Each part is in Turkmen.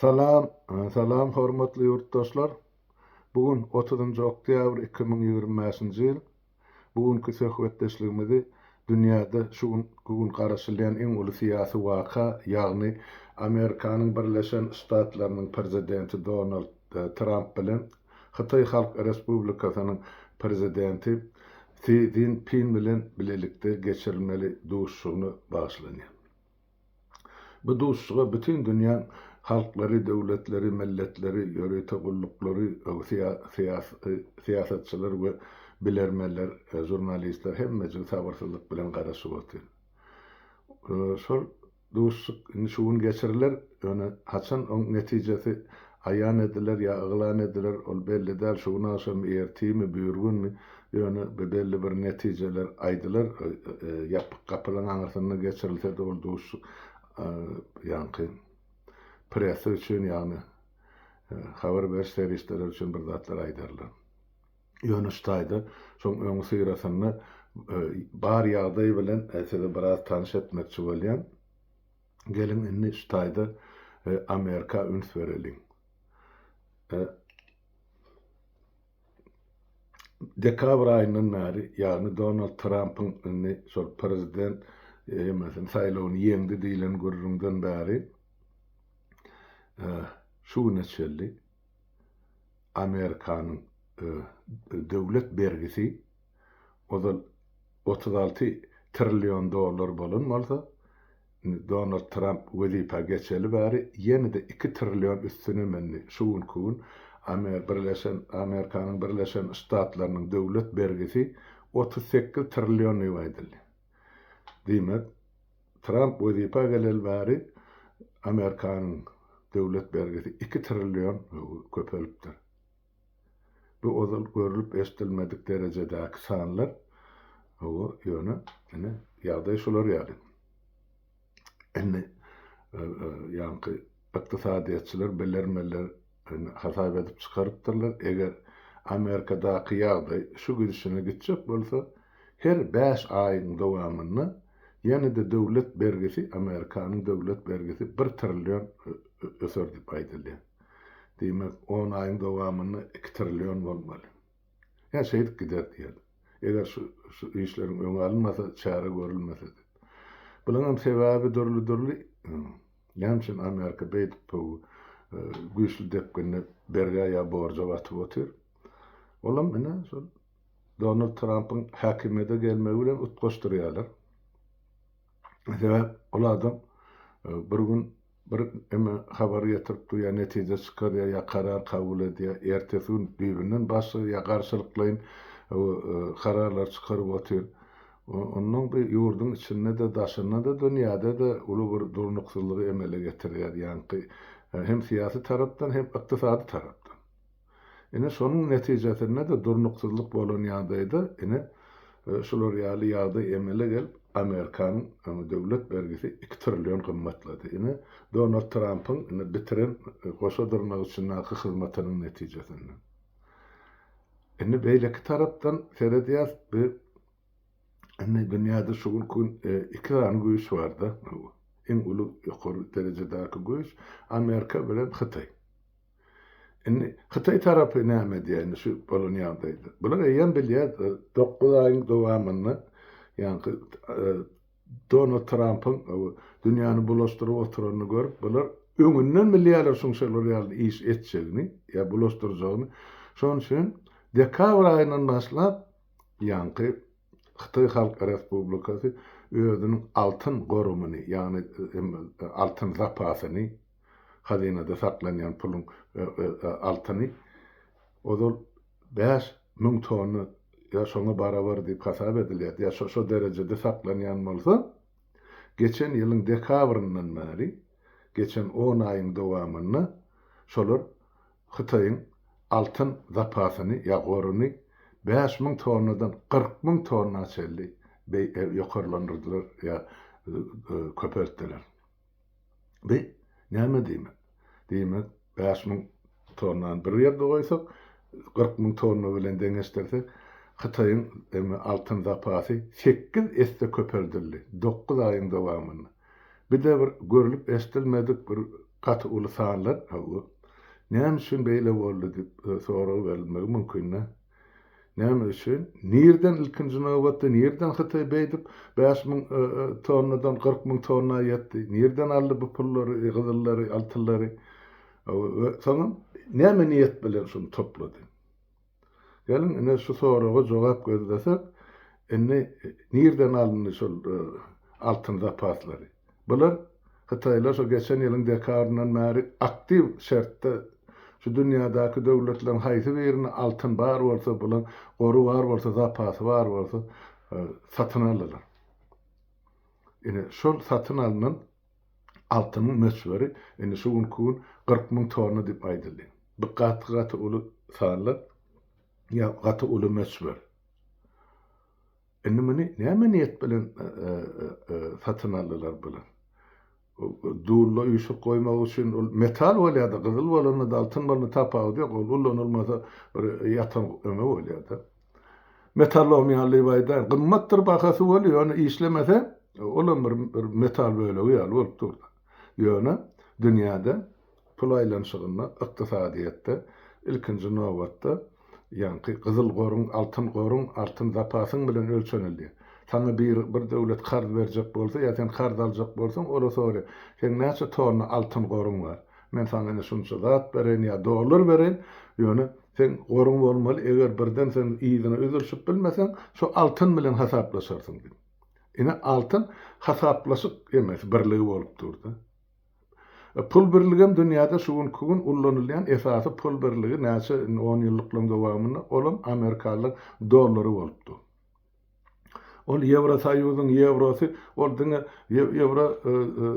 Salam Salam hormatly ýurtdaşlar bu gün otuzynjy oktýabr iki müň ýigrimi bäşinji ýyl bu günki söhbetdeşligimizi dünýäde şu gün bu gün garaşylýan iň uly syýasy waka ýagny amerikanyň birleşen ştatlarynyň prezidenti donald tramp bilen hytaý halk respublikasynyň prezidenti si zin pin bilen bilelikde geçirilmeli duşuşygyna bagyşlanýar. Bu duşuşyga bütin dünýäň halklary, döwletleri, milletleri, ýörite gulluklary, syýasatçylar we bilermenler, žurnalistler hemmejigi sabyrsyzlyk bilen garaşyp otyr. Şol duşuşyk indi şu gün geçiriler, ýöne haçan oň netijesi Aýan ediler ýa yglan ediler, ol belli däl, şu gün agşamy, ertirmi, büýürgünmi, ýöne be-belli bir netijeler aýdylar, e-e ýapyk gapylaryň aňyrsynda geçirilse-de ol duşuşyk, e, ýaňky pressa üçin, ýagny, e, habar beriş serişdeleri üçin bir zatlar aýdarlar. Ýöne şu taýda, şoň öňüsyrasynda, e, bar ýagdaý bilen, e, sizi biraz tanyş etmekçi bolýan. Geliň indi şu taýda Amerika üns bereliň. Dekabr aýyndan bäri, ýagny Donald Trampyň indi şol prezident ýemasyn saýlawyny ýeňdi diýlen gürrüňden bäri şu güne çenli Amerikanyň döwlet bergisi ozal otuz alty trillion dollar bolan bolsa, indi Donald Tramp wezipä geçeli bäri ýene-de iki trillion üstüne mündi. Şu günki gün Amer. Birleşen Amerikanyň Birleşen Ştatlarynyň döwlet bergisi otuz sekiz trillion diýip aýdyldy. Diýmek, Tramp wezipä geleli bäri Amerikanyň döwlet bergisi iki trillion köpelipdir. Bu ozal görlüp-eşdilmedik derejedäki sanlar. Hawa, ýöne, ine, ýagdaý şular ýaly. Indi ýaňky ykdysadyýetçiler, bilermenler hasap edip çykarypdyrlar, eger Amerikadaky ýagdaý şu gidişine gitjek bolsa, her bäş aýyň dowamynda ýene-de döwlet bergisi, Amerikanyň döwlet bergisi bir trillion öser diýip aýdylýar. Diýmek, on aýyň dowamynda iki trillion bolmaly. Ýa şeýdip gider diýeli. Eger şu, şu işleriň öňi alynmasa, çäre görülmese-de. Bunuňam sebäbi dürli-dürli. Näme üçin Amerika beýdip bu güýçli depginde bergä ýa borja batyp otyr? Olam ine, şol Donald Trampyň häkimiýete gelmegi bilen utgaşdyrýarlar. Sebäp, ol adam bir gün Bir eme habar getirip dur, ýa netije çykarýar, ýa karar kabul edýär, ertesi gün düýbünden başga, ýa garşylyklaýyn kararlar çykaryp otyr. Ondan bu ýurduň içinde-de, daşynda-da, dünýäde-de uly bir durnuksyzlygy emele getirýär, ýaňky hem syýasy tarapdan, hem ykdysady tarapdan. Ine, şonuň netijesinde-de durnuksyzlyk bolan ýagdaýda, ine, şular ýaly ýagdaý emele gelip, Amerikanyň, ine, döwlet bergisi iki trillion gymmatlady. Ine, Donald Trampyň, ine, bitiren, goşa dyrnak içindäki hyzmatynyň netijesinde. Indi beýleki tarapdan seredýäs, bi, indi dünýäde şu günki gün iki sany güýç bar-da, iň uly, ýokary derejedäki güýç, Amerika bilen Hytaý. Indi hytaý tarapy näme edýär indi şu bolan ýagdaýda? Bular eýýäm bilýär, dokuz aýyň dowamynda ýaňky Donald Trampyň dünýäni bulaşdyryp oturanyny görüp, bular öňünden bilýärler şuň şolar ýaly iş etjegini, ýa bulaşdyrjagyny. Şonuň üçin dekabr aýyndan başlap ýaňky Hytaý Halk Respublikasy özüniň altyn gorumyny, ýagny altyn zapasyny, hazynada saklanýan puluň altyny ozal bäş müň tonna ýa şoňa barabar diýip hasap edilýärdi, ýa şo-şo derejede saklanýan bolsa, geçen ýylyň dekabryndan bäri, geçen on aýyň dowamynda şolar Hytaýyň altyn zapasyny ýa goruny bäş müň tonnadan kyrk müň tonna çenli ýokarlandyrdylar ýa köpeltdiler. Bi näme diýmek? Diýmek, bäş müň tonnany bir ýerde goýsak, kyrk müň tonna bilen deňeşdirsek, Hytaýyň eme altyn zapasy sekiz esse köpeldildi dokuz aýyň dowamynda. Bi-de bir görlüp-eşdilmedik bir gaty uly sanlar, hawa, näme üçin beýle boldy diýip sorag berilmegi mümkin-dä. Näme üçin? Nireden ilkinji nobatda nireden Hytaý beýdip bäş müň tonnadan kyrk müň tonna ýetdi? Nireden aldy bu pullary, gyzyllary, altyllary? Soňam näme niýet bilen şuny toplady? Geliň ine şu soraga jogap gözlesek, indi nireden alyndy şol altyn zapaslary? Bular hytaýlar şu geçen ýylyň dekabryndan bäri aktiw şertde şu dünýädäki döwletleriň haýsy birinde altyn bar bolsa, bulaň gory bar bolsa, zapasy bar bolsa, satyn aldylar. Ine, şol satyn alnan altynyň möçberi indi şu günki gün kyrk müň tonna diýip aýdyldy. Bu gaty-gaty uly sanlar, ýa gaty uly möçber. Indi muny näme niýet bilen satyn aldylar bular? Dulda üýşüp goýmak üçin ol metal bolýar-da, gyzyl bolanda-da, altyn bolanda tapawudy ýok, ol ulanylmasa bir ýatan öňe bolýar-da. Metallom ýaly diýip aýdaýyn, gymmatdyr bahasy bolýar, ýöne işlemese, olam bir metal bölegi ýaly bolup dur-da. Ýöne dünýäde pul aýlanyşygynda, ykdysadyýetde, ilkinji nobatda, ýaňky gyzyl goruň, altyn goruň, altyn zapasyň bilen ölçenildi. Saňa biri, bir döwlet karz berjek bolsa ýa sen karz aljak bolsaň, ola sora, Seň näçe tonna altyn goruň bar? Men saňa ine şunça zat bereýin ýa dollar bereýin, ýöne seň goruň bolmaly, eger birden sen yzyna üzülşip bilmeseň, şu altyn bilen hasaplaşarsyň diýip. Ine altyn hasaplaşyk emes birligi bolup durda. Pul birligem dünýäde şu günki gün ullanylýan esasy pul birligi näçe on ýyllyklaryň dowamynda olam amerikalylaryň dollary bolupdy. Ol ýewrosoýuzyň ýewrosy ol diňe ýewro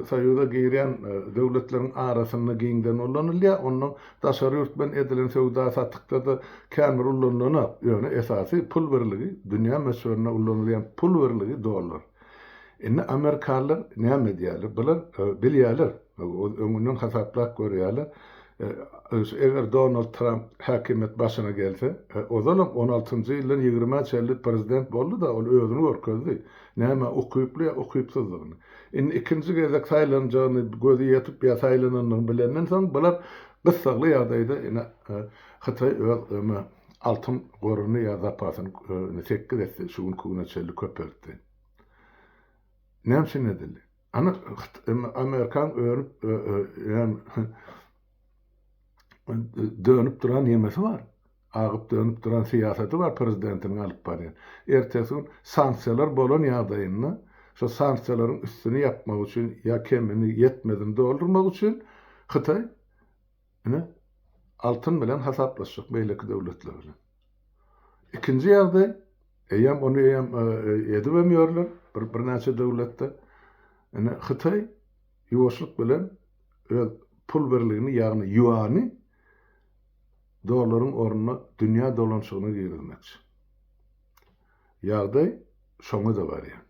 soýuza girýän döwletleriň arasynda giňden ullanylýar ondan Daşary ýurt bilen edilen söwda-satykda-da kän bir ullanylanok, ýöne esasy pul birligi, dünýä möçberinde ullanylýan pul birligi dollar. Indi amerikalylar näme edýärler? Bular bilýärler, öňünden hasaplap görýärler, eger Donald Tramp häkimiýet başyna gelse, ozalam on altynjy ýyldan ýigrimi-ä çenli prezident boldy-da, ol özüni görkezdi, nämä ukyply ýa ukypsyzdygyny. Indi ikinji gezek saýlanjagyny gözi ýetip ýa saýlanandygyny bilenden soň bular gyssagly ýagdaýda ine Hytaý öz öňe altyn goruny ýa zapasyny ine sekiz esse şu günki güne çenli köpeltdi. Näme üçin edildi? Ana Amerikan önüp dönüp duran ýemesi bar. Agyp dönüp duran syýasaty bar prezidentiniň alyp barýan. Ertesi gün sanksiýalar bolan ýagdaýynda şo sanksiýalaryň üstüni ýapmak üçin ýa kemini, ýetmezini doldurmak üçin Hytaý ine altyn bilen hasaplaşjak beýleki döwletler bilen. Ikinji ýagdaý eýýäm ony eýýäm edibem ýörler bir birnäçe döwletde. Ine Hytaý ýuwaşlyk bilen öz pul birligini ýagny ýuany dollaryň ornuna dünýä dolanyşygyna girizmekçi. Ýagdaý şoňa-da barýar.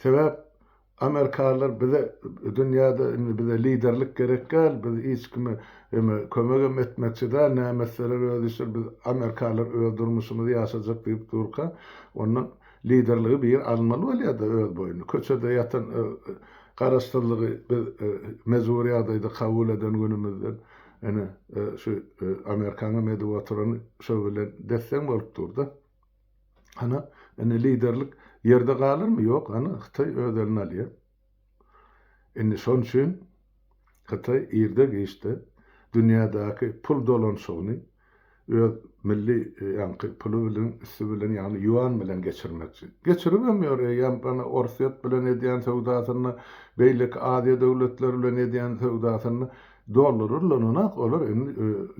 Sebäp amerikalylar bize dünýäde indi bize liderlik gerek däl, biz hiç kime eme kömegem etmekçi däl, näme etseler öz işleri, biz amerikalylar öz durmuşymyzy ýaşajak diýip durka, onda Liderligi bir almaly bolýada öz boýuna. Köçede ýatan garaşsyzlygy biz mejbury ýagdaýda kabul eden günümizden ene şu amerikanyň edip oturany şo bilen desseň bolup durda. Hany indi liderlik ýerde galyrmy? Ýok, hany Hytaý öz eline alýa. Indi şon üçin Hytaý irde-giçde dünýädäki pul dolanyşygyny öz milli ýaňky puly bilen, üsti bilen, ýagny ýuan bilen geçirmekçi. Geçiribem ýör, eýýäm ana Orsýet bilen edýän söwdasynda, beýleki Aziýa döwletleri bilen edýän söwdasynda dollary ullananak, olar indi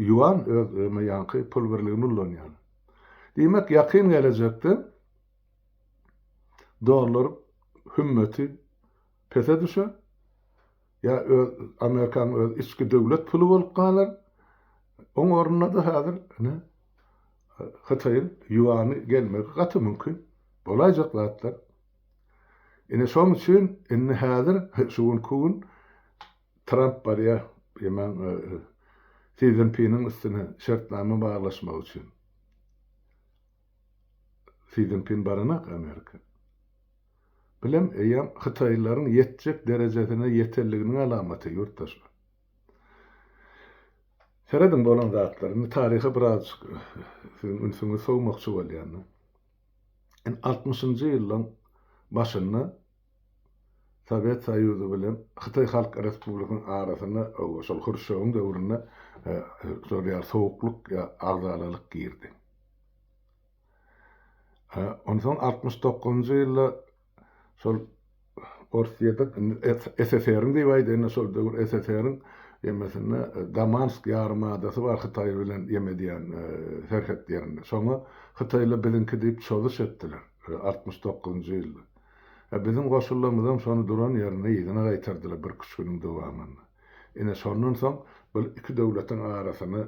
ýuan öz ýaňky pul birligini ulanýarlar. Diýmek, ýakyn gelejekde dollar hümmeti pese düşer, ýa öz Amerikanyň öz içki döwlet puly bolup galar, oň ornuna-da häzir ine Hytaýyň ýuany gelmegi gaty mümkin. Bolaýjak zatlar. Ine şoň üçin indi häzir şu günki gün Tramp barýar, emen Si Szinpiniň üstüne şertnama baglaşmak üçin. Si Szinpin baranak Amerika. Bilem eýýäm hytaýlylaryň ýetjek derejesine ýetenliginiň alamaty ýurtdaşlar. Serediň bolan zatlar. Indi taryha birazjyk siziň ünsüňizi sowmakçy bolýan. Altmyşynjy ýyllaryň başynda Sowet Soýuzy bilen Hytaý Halk Respublikasynyň arasyna şol Hruşýowyň döwründe şol ýaly sowuklyk ýa agzalalyk girdi. Onsoň altmyş dokuzynjy ýylda şol Orusýada SSR-iň diýip aýdaýynda şol döwür SSR-iň ýemesinde Damansk ýarym adasy bar Hytaý bilen ýem edýän serhet ýerinde. Şoňa Hytaýlar biziňki diýip çozuş etdiler altmyş dokuzynjy ýylda. A biziň goşullamyzam şony duran ýerinde yzyna gaýtardylar birküç günüň dowamynda. Ine, şondan soň bil iki döwletiň arasyna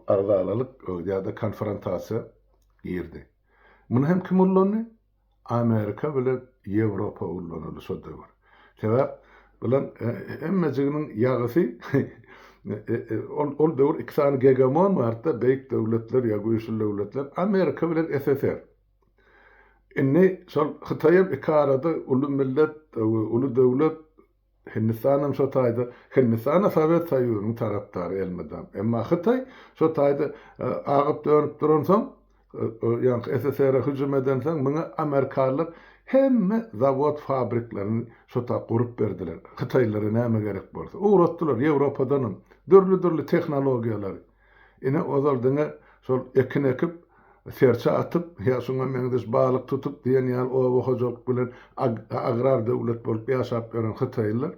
agzalalyk ýa-da konfrontasiýa girdi. Muny hem kim ullandy? Amerika bilen Ýewropa ullanyldy şo döwür. Sebäp, bulaň hemmejiginiň ýagysy ol ol döwür iki sany gegemon bardy-da, beýik döwletler ýa güýçli döwletler, Amerika bilen SSR. Indi şol Hytaý hem iki arada uly millet we uly döwlet. Hindistan hem şo taýda. Hindistan-a Sowet Soýuzynyň tarapdary elmydam. Emma Hytaý şo taýda agyp-dönüp duransoň, ýaňky SSR-e hüjüm edensoň, muňa amerikalylar hemme zawod-fabriklerini şo ta gurup berdiler. Hytaýlylara näme gerek bolsa, ugratdylar, Ýewropadanam dürli-dürli tehnologiýalary. Ine, ozal diňe şol ekin ekip, serçe atyp ýa şuňa meňzeş balyk tutup diýen ýaly oba hojalyk bilen agrar döwlet bolup ýaşap ýören hytaýlylar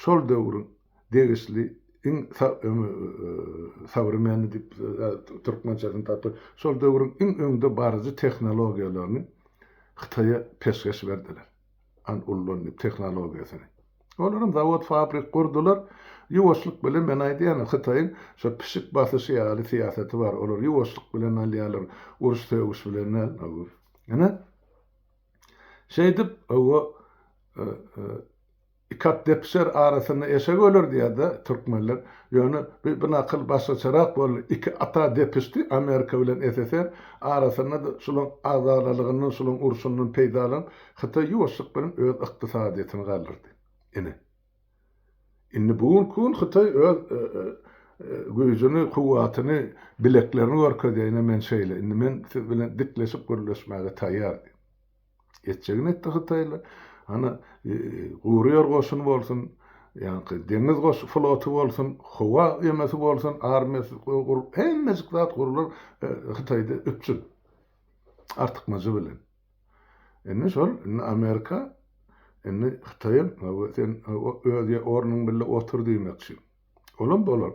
şol döwrüň degişli iň sowremenny diýip türkmençesini tapyp, şol döwrüň iň öňde baryjy tehnologiýalaryny Hytaýa peşgeş berdiler. an ullanyp tehnologiýasyny. Olaram zawod fabrik gurdular. Ýuwaşlyk bilen men aýdýan hytaýyň şo pişik basyşy ýaly syýasaty bar. Olar ýuwaşlyk bilen alýarlar. Uruş sögüş bilen däl. Hawa. Ine. Şeýdip hawa Iki at depişer, arasynda eşek öler diýýär-de türkmenler. Ýöne bu nakyl başgaçarak boldy. Iki at-a depişdi, Amerika bilen SSR. Arasynda-da şolaň agzalalygyndan, şolaň urşundan peýdalanyp, Hytaý ýuwaşlyk bilen öz ykdysadyýetini galdyrdy. Ine, indi bu günki gün Hytaý öz güýjüni, kuwwatyny, bileklerini görkezýär. Ine, men şeýle. Indi men siz bilen dikleşip gürleşmäge taýýar diýip. Etjegini etdi hytaýly. Ana, gury ýer goşuny bolsun, ýaňky deňiz goş floty bolsun, howa emesi bolsun, armiýasy gurup, hemmejik zat gurular Hytaýda üpjün. Artykmajy bilen. Indi şol, indi Amerika, indi Hytaýam, hawa, sen öz ornuň bille otur diýmekçi. Olam bolar.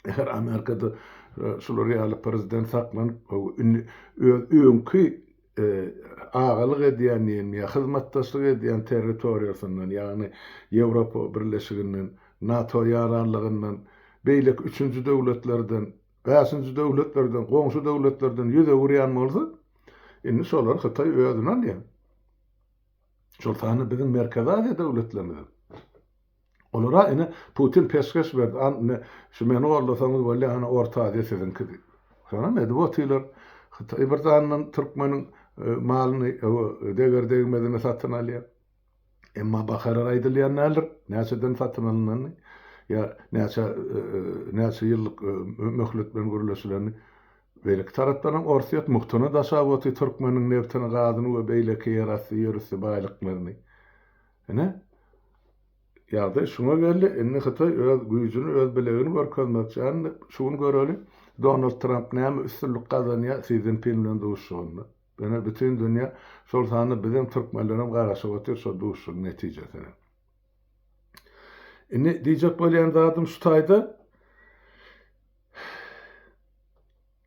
Eger Amerikada e, şular ýaly prezident saklanyp, indi öz öňki e, agalyk edýän diýen ýa hyzmatdaşlyk edýän territoriýasyndan, ýagny Ýewropa birleşiginden, NATO ýaranlygyndan, beýleki üçünji döwletlerden, bäşinji döwletlerden, goňşy döwletlerden ýüz öwürýän bolsa, indi şolar Hytaý özüni alýar. Şol sanda biziň Merkezi Aziýa döwletlerimiz Olara ine Putin peşgeş berdi, an ine şu meni goldasaňyz bolýa hany Orta Aziýa siziňki diýip. Şonam edip otylar. Hytaý bir sandan türkmeniň malyny ewe deger degmezine satyn alýar. Emma bakarar aýdylýan däldir, näçeden satyn alynanyny ýa näçe näçe ýyllyk möhlet bilen gürleşilenini. Beýleki tarapdanam Orsýet muhtuna daşap oty türkmeniň nebtini, gazyny we beýleki ýerasty, ýerüsti baýlyklaryny. Ine, ýagdaý şuňa geldi. Indi Hytaý öz güýjüni, öz bilegini görkezmekçi. Indi şu gün göreli, Donald Tramp näme üstünlik gazanýar Si Szinpin bilen duşuşygynda. Ine, bütin dünýä, şol sanda biziň türkmenlerem garaşyp otyr şo duşuşygyň netijesine. Indi diýjek bolýan zadym şu taýda,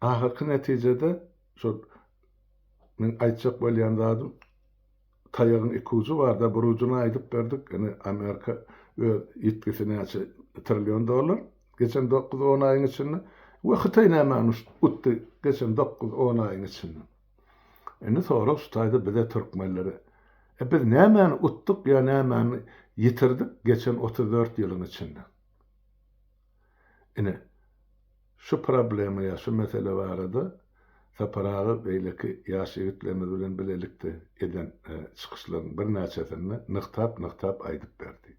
ahyrky netijede şol meň aýtjak bolýan zadym, Taýagyň iki ujy barda bir ujuny aýdyp berdik. Ine Amerika öz ýitgisi näçe trillion dollar geçen dokuz on aýyň içinde we Hytaý nämäni utdy geçen dokuz on aýyň içinde. Indi sorag şu taýda bize türkmenlere e biz nämäni utduk ýa nämäni ýitirdik geçen otuz dört ýylyň içinde. Ine, şu problema ýa şu mesele barada Sapar aga beýleki ýaş ýigitlerimiz bilen bilelikde eden çykyşlaryň birnäçesinde nygtap-nygtap aýdyp berdi.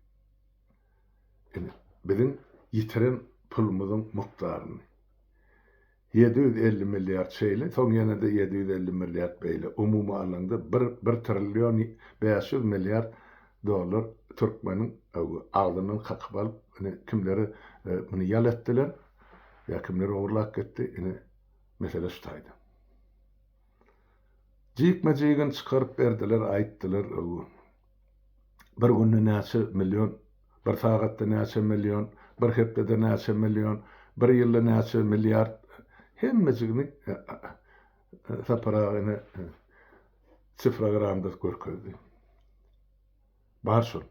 Ine, biziň ýitiren pulumyzyň mukdaryny. Ýedi ýüz elli milliard şeýle, soň ýene-de ýedi ýüz elli milliard beýle, umumy alanyňda bir bir trillion bäş ýüz milliard dollar türkmeniň agzyndan kakyp alyp, ine, kimleri muny ýal etdiler, ýa kimler ogurlap gitdi, ine, mesele şu taýda. Jikme-jigini çykaryp berdiler, aýtdylar. bir günde näçe million, bir sagatda näçe million, bir hepdede näçe million, bir ýylda näçe milliard, hemmejigini Sapar aga ene sifragramda görkezdi. Bar şol.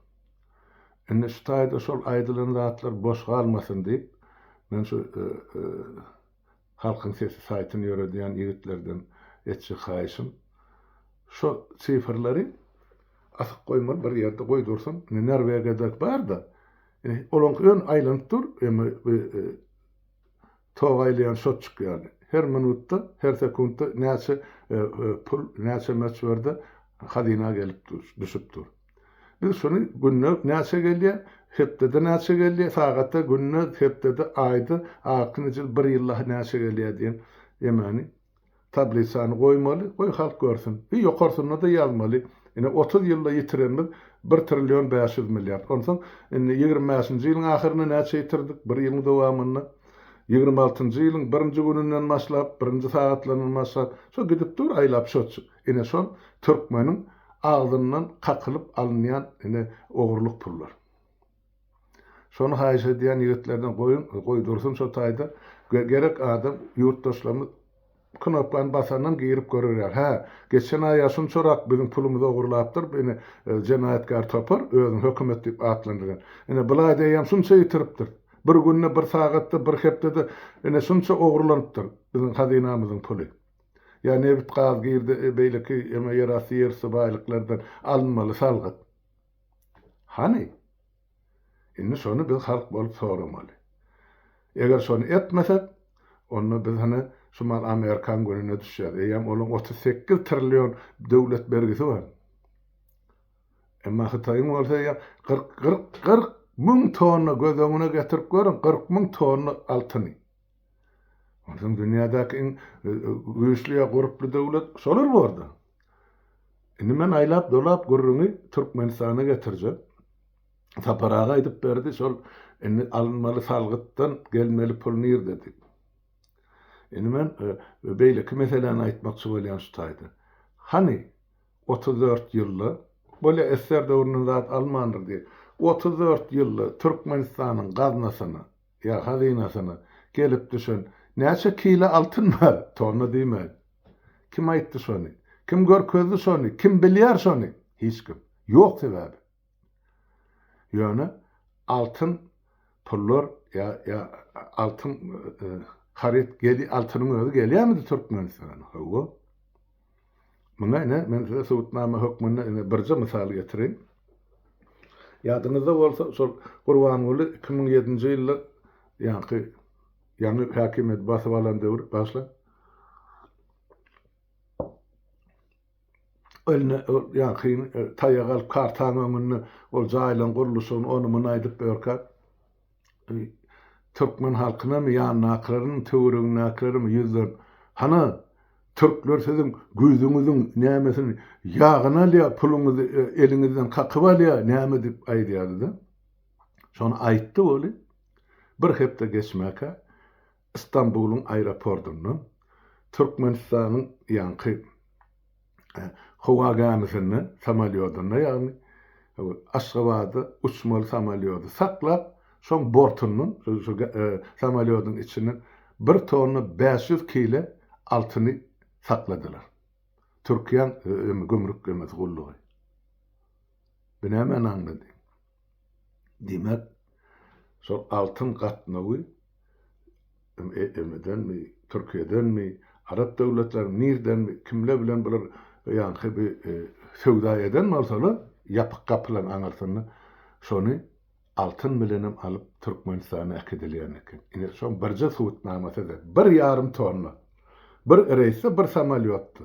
Indi şu taýda şol aýdylan zatlar boş galmasyn diýip, men şu e, e, Halkyň sesi saýtyny ýöredýän ýigitlerden etjek haýyşym, şo sifrleri asyp goýmaly bir ýerde goýdursyn, indi Norwegiýadaky bar-da, indi olaňky ýöne aýlanyp dur, emma bu tok aýlaýan şotçuk ýaly, her minutda, her sekuntda näçe pul, näçe möçberde hazyna gelip dur, düşüp dur. Biz şuny günde näçe gelýär, hepdede näçe gelýär, sagatda, günde, hepdede, aýda, altyn jyl, bir ýylda näçe gelýär diýen emani tablisany goýmaly, goý halk görsün. I ýokarsynda-da ýazmaly. Ine, otuz ýylda ýitirenimiz bir trillion bäş ýüz milliard. Onsoň indi ýigrimi bäşinji ýylyň ahyrynda näçe ýitirdik, bir ýylyň dowamynda? Ýigrimi altynjy ýylyň birinji gününden başlap, birinji sagatlaryndan başlap, şo gidip dur aýlap şoçu. Ine şol türkmeniň agzyndan kakylyp alynýan ine ogurlyk pullar. Şony haýyş edýän ýigitlerden goýuň, goý dursun şo taýda. Gerek adam ýurtdaşlarymyz knopkany basandan girip görer ýaly. Hä, geçen aýa şunçarak biziň pulumyzy ogurlapdyr bu ine jenaýatkär topar, özüni hökümet diýip atlandyrýan. Ine bulaý deýýäm şunça ýitiripdir. Bir günde, bir sagatda, bir hepdede ine şunça ogurlanypdyr biziň hazynamyzyň puly. Ýa nebit, gaz, girde, beýleki eme ýerasty, ýerüsti baýlyklardan alynmaly salgyt? Hany? Indi şony biz halk bolup soramaly. Eger şony etmesek, onda biz hany şumal Amerikan gününe düşýäs. Eýýäm olaň otuz sekiz trillion döwlet bergisi bar. Emma Hytaýyň bolsa eýýäm kyrk, kyrk, kyrk müň tonna, göz öňüne getirip görüň, kyrk müň tonna altyny. Onsoň dünýädäki iň güýçli ýa gurply döwlet şolar borda. Indi men aýlap dolap gürrüňi Türkmenistana getirjek. Sapar aga aýdyp berdi şol indi alynmaly salgytdan gelmeli pul nirde diýip. Indi men e, beýleki meseläni aýtmakçy bolýan şu taýda. Hany 34 ýylda bolýa esser döwründen zat almandyr diýip. 34 ýylda Türkmenistanyň gaznasyna Ýa hazynasyna gelip düşen näçe kile altyn bar? Tonna diýmän. Kim aýtdy şony? Kim görkezdi şony? Kim bilýär şony? Hiç kim. Ýok sebäbi. Ýöne altyn pullar ýa ýa altyn haryt geli altynyň özi gelýärmidi Türkmenistana? Hawa. Muňa ine, men size subutnama hökmünde ine birje mysal getireýin. Ýadyňyzda bolsa, şol Gurbanguly iki müň ýedinji ýylda ýaňky ýaňy häkimiýeti basyp alan döwri başlap, eline ol ýaňky taýagy alyp, kartaň öňünde ol jaýlaryň gurluşygyny, ony-muny aýdyp ýörkä, Türkmen halkynam ýandakylarynyň töweregindäkilerem ýüzlenip Hana Türkler siziň güýzüňiziň nämesini ýagyny alýar puluňyzy eliňizden kakyp alýar näme diýip aýdýardyda. Şony aýtdy weli. Bir hepde geçmäkä Stambulyň aeroportunda Türkmenistanyň ýaňky howa gämisinde, samolýodynda ýagny, Aşgabada uçmaly samolýody saklap, şoň bortundan, şu samolýodyň içinden bir tonna bäş ýüz kile altyny sakladylar. Türkiýäň gümrük gullugy. Bu nämäni aňlady? Diýmek, şol altyn gatnawy MM-denmi, Türkiýedenmi, arap döwletleriniň nirdenmi, kimler bilen bular ýaňky bi söwda eden bolsalar, ýapyk gapylaryň aňyrsynda, şony altyn bilenem alyp Türkmenistana äkidilýän eken. Ine, şoň birje subutnamasydy. Bir ýarym tonna. Bir reýsde, bir samolýotda.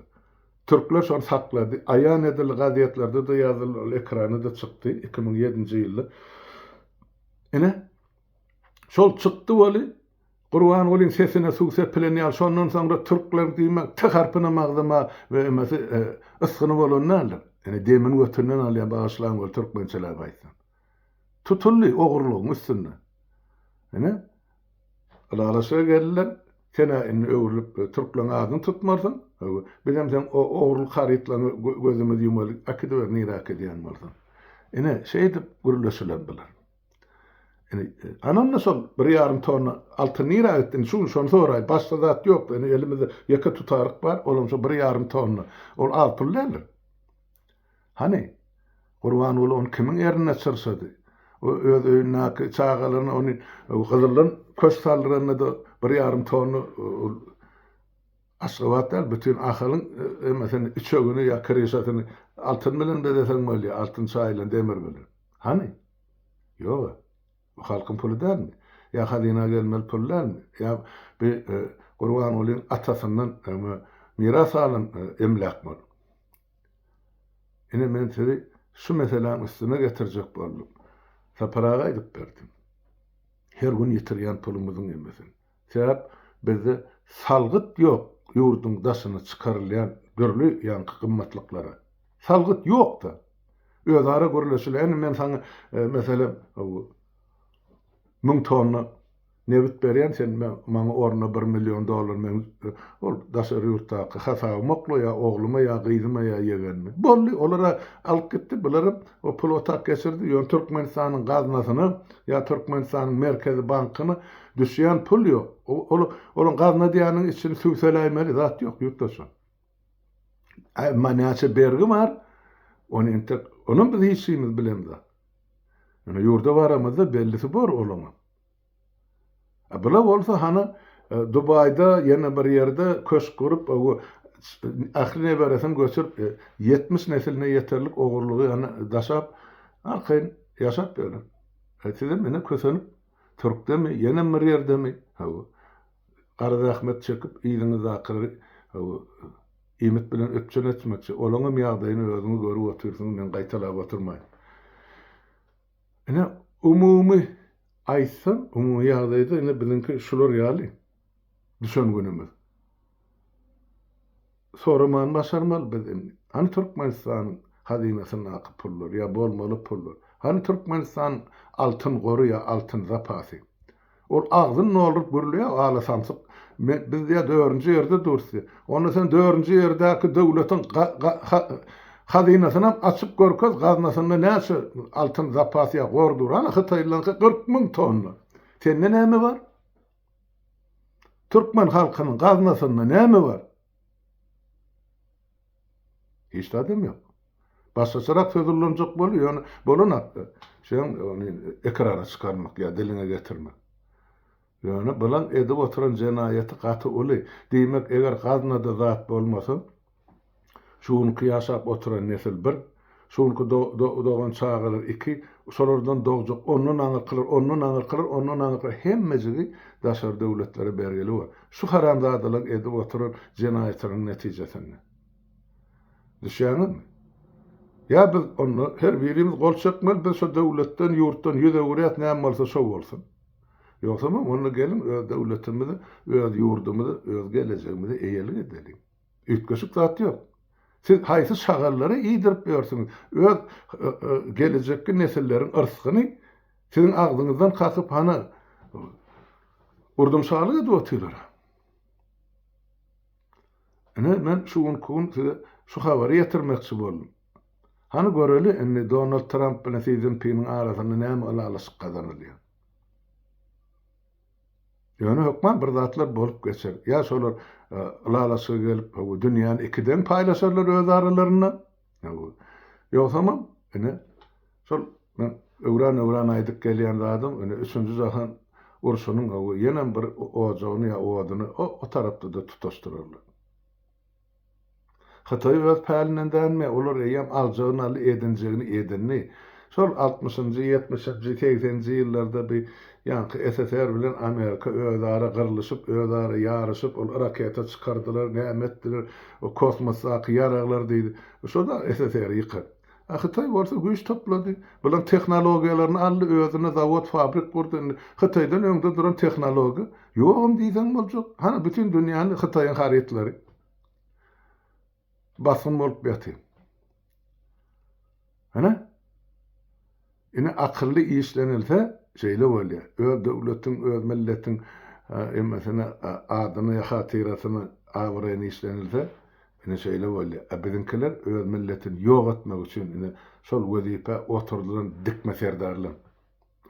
Türkler şony saklady. Aýan edildi, gazetlerde-de ýazyldy, ol ekrana-da çykdy, iki müň ýedinji ýylda. Ine, şol çykdy weli, Gurbangulyň sesine suw sepilen ýaly, şondan soňra türkler diýmek T harpynam agzyma we emesi, e, ysgyny bolan däldir. Ine, demini götünden alýan, bagyşlaň weli, türkmençeläp aýtsam. Tutuldy ogurlygyň üstünde. Ine, ylalaşyga geldiler. Sen-ä indi öwrülip, türkleriň adyny tutmarsyň. Bizem seň o ogurlyk harytlaryňy gözümizi ýumaly äkidiber, nirä äkidýän bolsaň. Ine, şeýdip gürleşiler bular. Ine, anam-da şol bir ýarym tonna altyn nirä gitdi? Indi şu gün şony soraýyn. Başga zat ýok-da, indi elimizde ýeke tutaryk bar, olam şu bir ýarym tonna. Ol az pul däldir. Hany, Gurbanguly ony kimiň ernine çyrşady? O öz öýündäki çagalaryna ony gyzyldan köş saldyranda-da bir ýarym tonna Aşgabat däl, bütin Ahalyň emesini, üçegini ýa kryşasyny altyn bilen bezeseň bolýar, altyn çaýylan demir bilen. Hany? Ýog-a. Bu halkyň puly dälmi? Ýa hazyna gelmeli pul dälmi? Ýa bu Gurbangulyň atasyndan miras galan emläk bolup? Ine men sizi şu meseläň üstüne getirjek boldum. Sapar aga aýdyp berdi. Her gün ýitirýän pulumyzyň ýemesin. Sebäp bizde salgyt ýok ýurduň daşyna çykarylýan dürli ýaňky gymmatlyklara. Salgyt ýok-da. Özara gürleşilýär. Indi men saňa meselem müň tonna Nebit berýän sen maňa ornuna bir million dollar meň ol daşary ýurtdaky hasabym okla ýa ogluma ýa gyzyma ýa ýegenime. Boldy olara alyp gitdi bularam o pul otak geçirdi ýöne Türkmenistanyň gaznasyna ýa Türkmenistanyň merkezi bankyna düşýän pul ýok. Ol olaň gazna diýýäniniň içini süwseläýmeli zat ýok ýurtdaşlar. Emma näçe bergi bar ony entek onam biz hiç kimimiz bilemzok. Ýöne ýurda baramyzda bellisi bor olaňam. A bula bolsa hany Dubaýda ýene bir ýerde köşk gurup Ahli neberesini göçürip ýetmiş nesline ýeterlik ogurlygy hany daşap arkaýyn ýaşap ýören. A sizem ine kösenip Türkdemi ýenem bir ýerdemi hawa gara zähmet çekip yzyňyzdakylary hawa iýmit bilen üpjün etmekçi olaňam ýagdaýyny özüňiz görüp otyrsyňyz men gaýtalap otyrmaýyn. Ine, umumy aýtsam, umumy ýagdaýda ine biziňki şular ýaly düşen günümiz. Soramany başarmaly biz indi. Hany Türkmenistanyň hazynasyndaky pullar ýa bolmaly pullar? Hany Türkmenistanyň altyn gory ýa altyn zapasy? Ol agzyny dolduryp gürleýär, Gala samsyk, men, biz ýa dördünji ýerde durus diýýär. Onda sen dördünji ýerdäki döwletiň ga-ga-ha-hazynasynam açyp görkez, gaznasynda näçe altyn zapas ýa gor dur? Ana, hytaýlylaryňky kyrk müň tonna. Sende näme bar? Türkmen halkynyň gaznasynda näme bar? Hiç zadam ýok. Başgaçarak söz ullanjak boldy, ýöne bolan hakda sen ony ekrana çykarmak ýa diliňe getirmek. Ýöne bulan edip oturan jenaýaty gaty uly. Diýmek, eger gaznada zat bolmasa, şu günki ýaşap oturan nesil bir Şu günki do-do-dogan çagalar iki, şolardan dogjak ondan aňyrkylar, ondan aňyrkylar, ondan aňyrkylar hemmejigi daşary döwletlere bergili bor. Şu haramzadalaryň edip oturan jenaýatlarynyň netijesinde. Düşýäňizmi? Ýa biz onda her birimiz gol çekmeli, biz şu döwletden, ýurtdan ýüz öwürýäs, näme bolsa şo bolsun. Ýogsam onda geliň öz döwletimize, öz ýurdumyza, öz gelejegimize eýelik edeliň. Üýtgeşik zat ýok. Siz haýsy şagallary iýdirip ýörsüňiz? Öz gelejekki nesilleriň yrsgyny siziň agzyňyzdan kakyp hana urdumşalyk edip otyrlar-a. Ine, men şu günki gün size şu habary ýetirmekçi boldum. Hany göreli indi Donald Tramp bilen Si Szinpiniň arasynda näme ylalaşyk gazanylýar. Ýöne hökman bir zatlar bolup geçer. Ýa şolar ylalaşyga gelip, bu dünýäni iki deň paýlaşarlar öz aralarynda. Ýogsamam, ine, şol men öwran-öwran aýdyp gelýän zadym, ine, üçünji jahan urşunyň ýenem bir ojagyny ýa oduny o tarapda-da tutaşdyrarlar. Hytaý öz pälinden dänme, olar eýýäm aljagyny aldy, edinjegini edindi. Şol altmyşynjy, ýetmişinji, segseninji ýyllarda bi ýaňky SSR bilen Amerika özara gyrlyşyp, özara ýaryşyp, ol raketa çykardylar, näme etdiler, o kosmosdaky ýaraglar diýdi. Şo dagy SSR-i ýykardy. A Hytaý bolsa güýç toplady. Bular tehnologiýalaryny aldy, özüne zawod, fabrik gurdy. Indi Hytaýdan öňde duran tehnologiýa ýogam diýseň boljak. Hany bütin dünýäni Hytaýyň harytlary basgyn bolup ýaty. Hany? Ine akylly işlenilse şeýle bolýar. Öz döwletiň, öz milletiň emmesine adyny, hatyrasyny, abraýyny işlenilse ine şeýle bolýar. A biziňkiler öz milletini ýok etmek üçin ine şol wezipä oturdylan dikme serdarlar.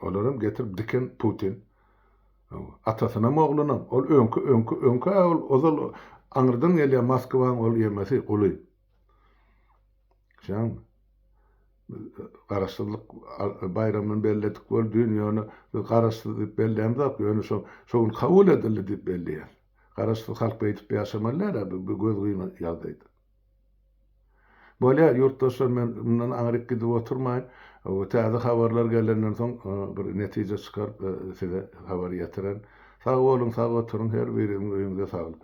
Olaram getirip diken Putin. Hawa. Atasynam oglunam. Ol öňki öňki öňki-ä ol ozal aňyrdan gelýän Moskwaň ol ýemesi, guly. Şoňa Garaşsyzlyk baýramyny belledik bol düýn, ýöne biz garaşsyz diýip bellämzok, ýöne şo şo gün kabul edildi diýip belleýäs. Garaşsyz halk beýdip ýaşamaly däl-ä bu bu gözgyna ýagdaýda. Bolýar ýurtdaşlar men mundan aňryk gidip oturmaýyn. Bu täze habarlar gelenden soň bir netije çykaryp size habar ýetiren. Sag boluň sag oturyň her biriňiziň öýüňize saglyk.